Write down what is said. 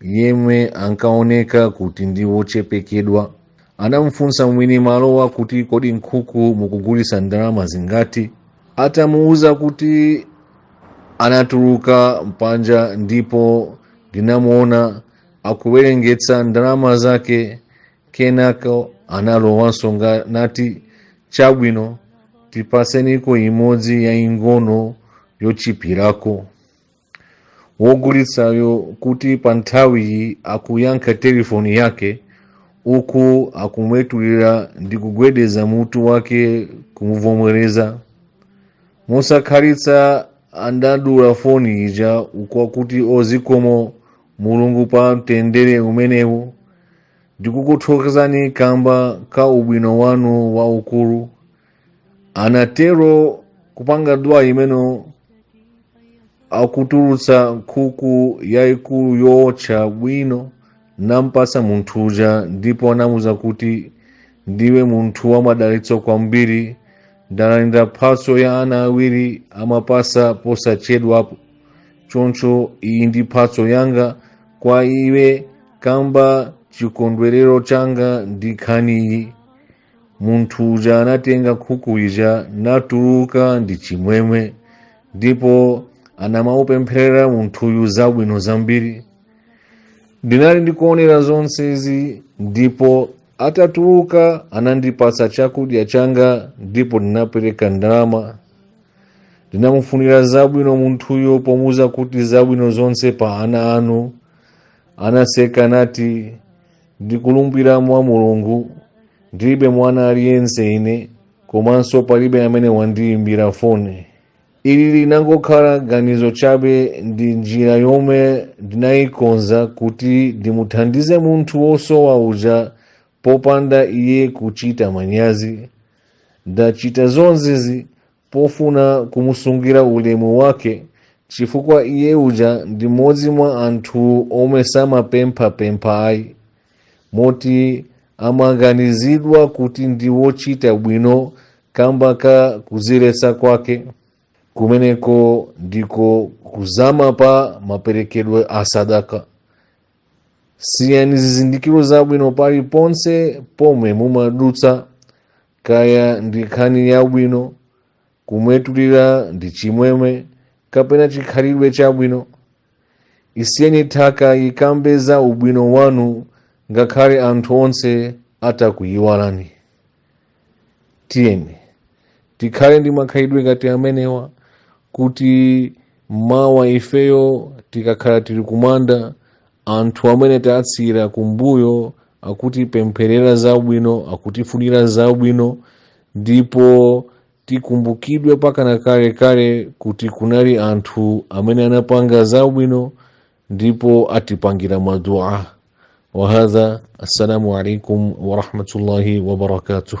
yemwe ankaoneka kuti ndi wochepekeredwa anamufunsa mwini malowo kuti kodi nkhuku mukugulisa ndalama zingati atamuuza kuti anatuluka panja ndipo ndinamuona akuwerengetsera ndalama zake kenako analowanso nga- nati chabwino tipatseniko imodzi yaing'ono yochipirako wogulitsayo kuti pa nthawiyi akuyankha telefoni yake uku akumwetulira ndi kugwedeza mutu wake kumuvomereza mosakhalitsa andadula foni ija uku akuti o zikomo mulungu pa mtendere umenewu ndikukuthokozani kamba ka ubwino wanu waukulu anatero kupanga dua imeneyo akutulutsa nkhuku yaikulu yootcha bwino nampatsa munthu uja ndipo anamuuza kuti ndiwe munthu wamadalitso kwambiri ndalandira mphatso ya ana awiri amapasa posachedwapo choncho iyi ndi mphatso yanga kwa iwe kamba chikondwerero changa ndi nkhaniyi munthu uja anatenga nkhuku ija natuluka ndi chimwemwe ndipo anamupempherera munthuyu zabwino zambiri ndinali ndikuonera zonsezi ndipo atatuluka anandipatsa chakudya changa ndipo ndinapereka ndalama ndinamufunira zabwino munthuyo pomuuza kuti zabwino zonse pa ana anu anaseka nati ndikulumbira mwa mulungu ndilibe mwana aliyense ine komanso palibe amene wandiyimbira foni ili linangokhala ganizo chabe ndi njira yomwe ndinayikonza kuti ndimuthandize munthu wosowa uja popanda iye kuchita manyazi ndachita zonsezi pofuna kumusungira ulemu wake chifukwa iye uja ndi mmodzi mwa anthu omwe samapemphapempha ayi moti amaganizidwa kuti ndi wochita bwino kamba ka kudziletsa kwake kumeneko ndiko kuzama pa maperekedwe a sadaka siyani zizindikiro zabwino paliponse pomwe mumadutsa kaya ndi nkhani yabwino kumwetulira ndi chimwemwe kapena chikhalidwe chabwino isiyeni nthaka ikambe za ubwino wanu ngakhale anthu onse atakuyiwalani tiyeni tikhale ndi makhalidwe ngati amenewa kuti mawa ifeyo tikakhala tili kumanda anthu amene tatsiyira kumbuyo akutipempherera zabwino akutifunira zabwino ndipo tikumbukidwe mpakana kalekale kuti kunali anthu amene anapanga zabwino ndipo atipangira madua wahadha assalamu alaikum warahmatullahi wabarakatuh